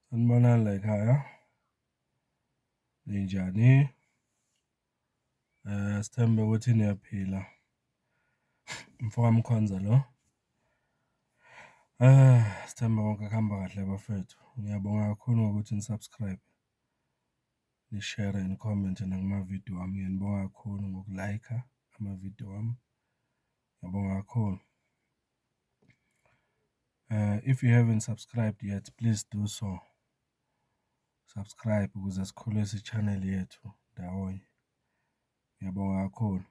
Sanibonani layikhaya, ninjani? Sithembe ukuthi niyaphila, umfokaMkhonza lo. Sithembe konke kuhamba kahle bafwethu, ngiyabonga kakhulu ngokuthi ni-subscribe, nishere nikhomente nakuma-video ami, ngiyanibonga kakhulu ngokulayikha amavidiyo wami. Ngiyabonga kakhulu. If you haven't subscribed yet please do so, subscribe ukuze sikhulise i-channel yethu ndawonye. Ngiyabonga kakhulu.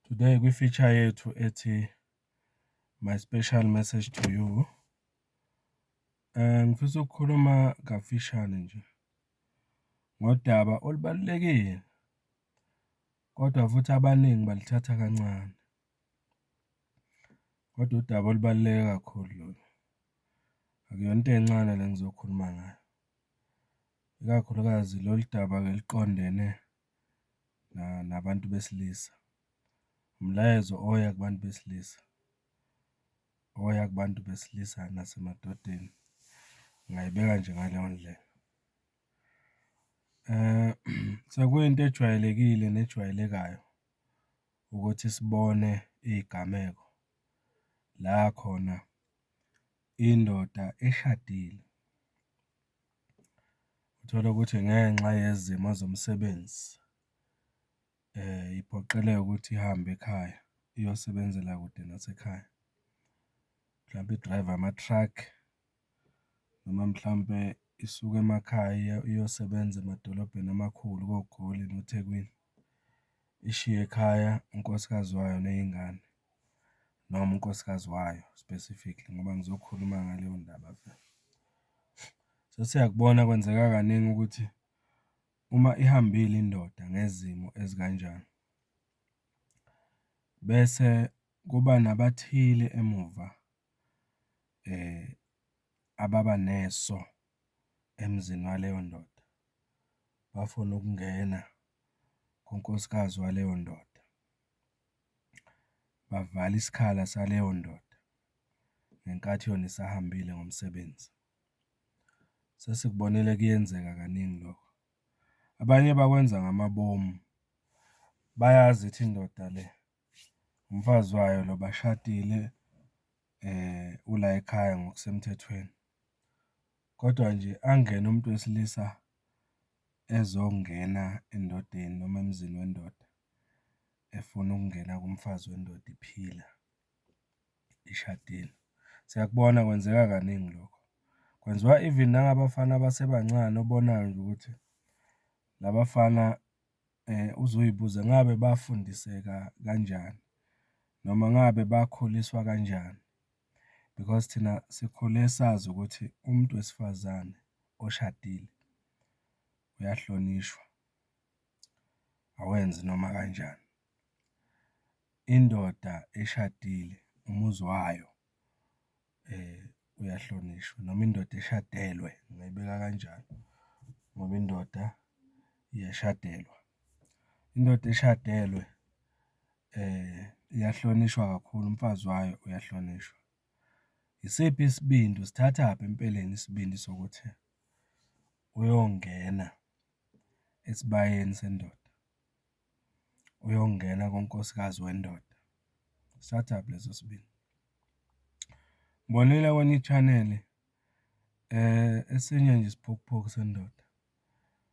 Today kwi-feature yethu ethi my special message to you. Eh, ngifisa ukukhuluma kafishane nje ngodaba olubalulekile Kodwa futhi abaningi balithatha kancane. Kodwa udaba olubaluleke kakhulu lolu, akuyona into encane le engizokhuluma ngayo, ikakhulukazi lolu daba-ke liqondene nabantu besilisa. Umlayezo oya kubantu besilisa, oya kubantu besilisa nasemadodeni, ngingayibeka nje ngaleyo ndlela. Sekuyinto ejwayelekile nejwayelekayo ukuthi sibone iy'gameko la khona indoda eshadile, uthole ukuthi ngenxa yezimo zomsebenzi iphoqeleke ukuthi ihambe ekhaya iyosebenzela kude nasekhaya, mhlampe idrayiva ama-truck. noma mhlawumpe isuke emakhaya iyosebenza emadolobheni amakhulu koGoli noThekwini, ishiye ekhaya unkosikazi wayo ney'ngane noma unkosikazi wayo specifically ngoba ngizokhuluma ngaleyo ndaba vele. So, siyakubona kwenzeka kaningi ukuthi uma ihambile indoda ngezimo ezikanjani bese kuba nabathile emuva. ababa neso emzini waleyo ndoda, bafuna ukungena kunkosikazi waleyo ndoda, bavala isikhala saleyo ndoda ngenkathi yona isahambile ngomsebenzi. Sesikubonile kuyenzeka kaningi lokho. Abanye bakwenza ngamabomu, bayazi ithi indoda le. Umfazi wayo lo bashadile, ulayikhaya ngokusemthethweni. Kodwa nje angene umuntu wesilisa ezongena endodeni noma emzini wendoda efuna ukungena kumfazi wendoda iphila, ishadile. Siyakubona kwenzeka kaningi lokho, kwenziwa even nangabafana abasebancane obonayo nje ukuthi la bafana uzoy'buza ngabe bafundiseka kanjani noma ngabe bakhuliswa kanjani because thina sikhule sazi ukuthi umuntu wesifazane oshadile uyahlonishwa, awenzi noma kanjani. Indoda eshadile umuzi wayo. uyahlonishwa noma indoda eshadelwe, ngingayibeka kanjalo ngoba indoda iyashadelwa. Indoda eshadelwe iyahlonishwa kakhulu, umfazi wayo uyahlonishwa. Yisiphi isibindi, usithathaphi empeleni isibindi sokuthi uyongena esibayeni sendoda? uyongena konkosikazi wendoda start up leso sibini. Ngibonile kwenye i-channel esinye nje isiphukuphuku sendoda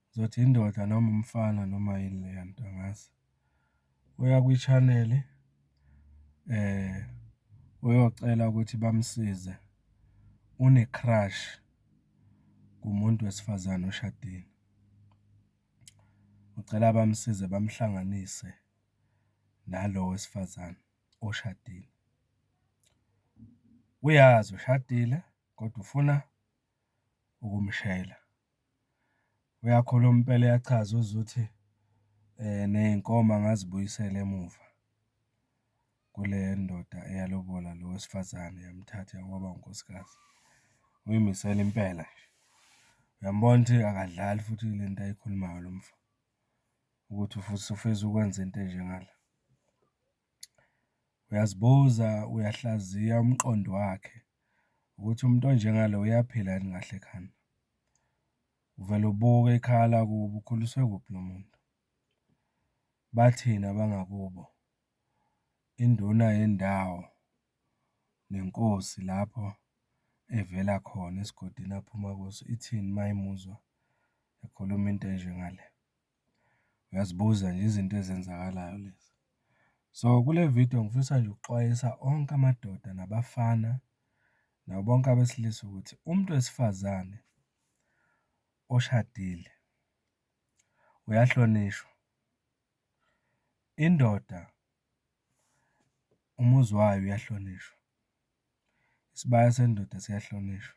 ngizothi indoda noma umfana noma yini leya nto angazi, uya kwi-channel uyocela ukuthi bamsize une-crush kumuntu wesifazane oshadile. Ngicela bamsize bamuhlanganise nalo wesifazane oshadile. Uyazi ushadile kodwa ufuna ukumshela. Uyakhuluma impela uyachaza uZwi ukuthi ney'nkomo angazibuyisela emuva. kule ndoda eyalobola lo wesifazane yamthatha waba unkosikazi. Uyimisele impela nje. Uyambona ukuthi akadlali futhi le nto ayikhulumayo lo mfo, ukuthi futhi ufisa ukwenza into enje ngala. Uyazibuza, uyahlaziya umqondo wakhe ukuthi umuntu onjengalo uyaphila yini kahle ekhanda. Uvele ubuke ikhaya lakubo, ukhuliswe kuphi lo muntu? Bathini abangakubo? induna yendawo nenkosi lapho evela khona esigodini aphuma kuso ithini uma imuzwa ekhuluma into enje ngale? Uyazibuza nje izinto ezenzakalayo lezi. So, kule vidiyo ngifisa nje ukuxwayisa onke amadoda nabafana nabo bonke abesilisa ukuthi umuntu wesifazane oshadile uyahlonishwa. Indoda umuzi wayo uyahlonishwa, isibaya sendoda siyahlonishwa.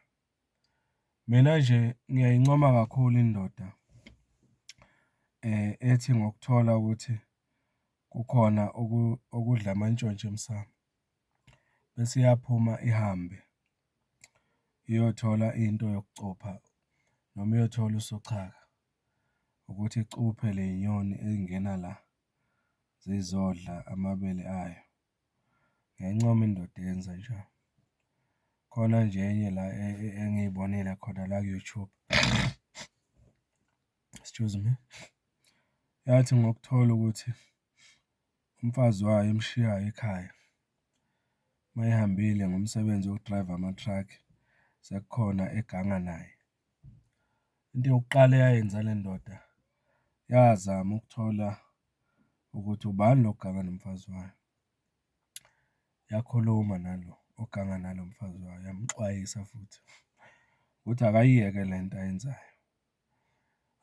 Mina nje ngiyayincoma kakhulu indoda ethi ngokuthola ukuthi kukhona okudla amantshontsho emsamu bese iyaphuma ihambe iyothola into yokucupha noma iyothola usochaka. ukuthi icuphe le nyoni eyingena la zizodla amabele ayo. Ngiyayincoma indoda eyenza njalo. Khona nje enye la engiyibonile khona la ku-YouTube, excuse me, yathi ngokuthola ukuthi umfazi wayo emshiyayo ekhaya uma ehambile ngomsebenzi wokudrayiva ama-truck sekukhona eganga naye Into yokuqala eyayenza le ndoda yazama ukuthola ukuthi ubani lo oganga nomfazi wayo, yakhuluma nalo oganga nalo mfazi wayo, yamxwayisa futhi ukuthi akayiyeke le nto ayenzayo.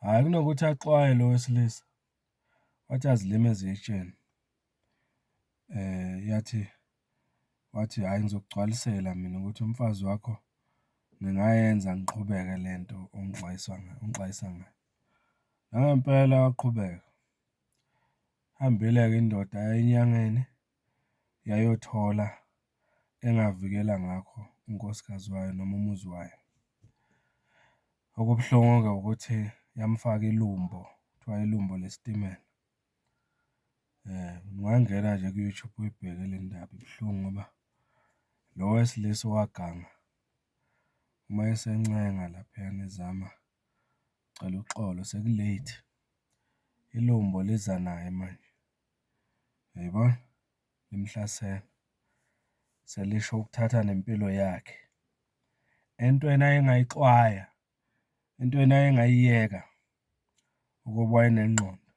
Hhayi kunokuthi axwaye lo wesilisa, wathi azilima ezitsheni yathi. wathi hhayi ngizokugcwalisela mina ukuthi umfazi wakho ngingayenza ngiqhubeke le nto ongixwayisa ngayo, ongixwayisa ngayo. Nangempela waqhubeka, ihambile-ke indoda yaya enyangeni yayothola engavikela ngakho unkosikazi wayo noma umuzi wayo. Okubuhlungu-ke ukuthi yamufaka ilumbo, kuthiwa ilumbo lesitimela. Ungangena nje ku-YouTube uyibheke le ndaba ibuhlungu ngoba lo wesilisa owaganga uma esencenga laphayana ezama ukucela uxolo seku-late, ilumbo liza naye manje, uyayibona? Limhlasele, selisho ukuthatha nempilo yakhe entweni ayengayixwaya. into yena ayengayiyeka ukuba wayenengqondo.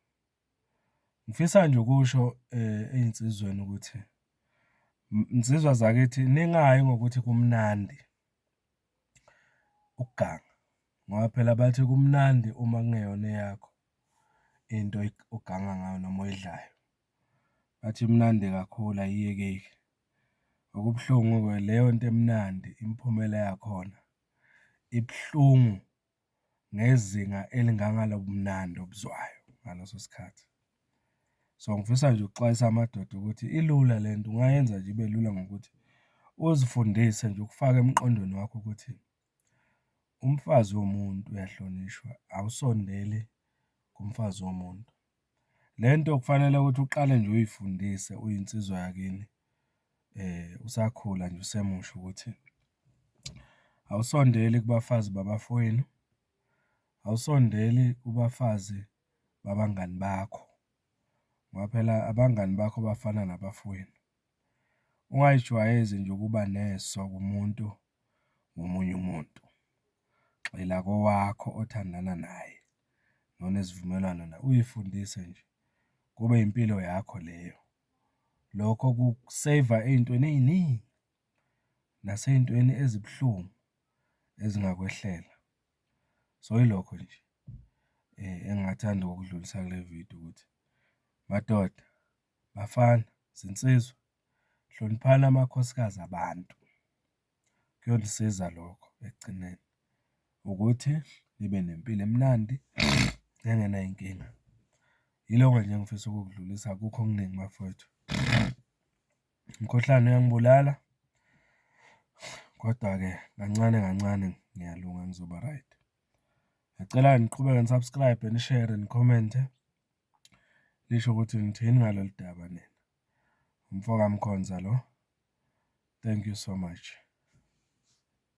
Ngifisa nje ukusho ey'nsizweni ukuthi nsizwa zakithi ningayi ngokuthi kumnandi ukuganga ngoba phela bathi kumnandi uma kungeyona eyakho into oganga ngayo noma oyidlayo. Bathi imnandi kakhulu ayiyekeki. Okubuhlungu-ke leyo nto emnandi imiphumela yakhona ibuhlungu ngezinga elingangalobumnandi obuzwayo ngaleso sikhathi. So, ngifisa nje ukuxwayisa amadoda ukuthi ilula le nto, ungayenza nje ibe lula ngokuthi uzifundise nje, ukufake emqondweni wakho ukuthi umfazi womuntu uyahlonishwa, awusondeli kumfazi womuntu. Le nto kufanele ukuthi uqale nje uyifundise uyinsizwa yakini usakhula nje usemusha ukuthi awusondeli kubafazi babafowenu, awusondeli kubafazi babangani bakho ngoba phela abangani bakho bafana nabafowenu. Ungayijwayezi nje ukuba neso kumuntu ngomunye umuntu, gxila kowakho othandana naye nonesivumelwano naye, uyifundise nje kube impilo yakho leyo. Lokho kuku-save-a ey'ntweni ey'ningi nasey'ntweni ezibuhlungu ezingakwehlela. So, ilokho nje engingathanda ukukudlulisa kule vidiyo ukuthi madoda. Bafana, zinsizwa hloniphani amakhosikazi abantu, kuyonisiza lokho ekugcineni ukuthi nibe nempilo emnandi nengenay'nkinga. Yilokho nje engifisa ukukudlulisa, akukho okuningi bafwethu. Umkhuhlane uyangibulala, kodwa-ke kancane kancane ngiyalunga ngizoba-right. Ngiyacela-ke niqhubeke ni-subscribe-e, nishere, nikhomenthe. Lisho ukuthi ngithini ngalolu daba nina? UmfokaMkhonza lo. Thank you so much.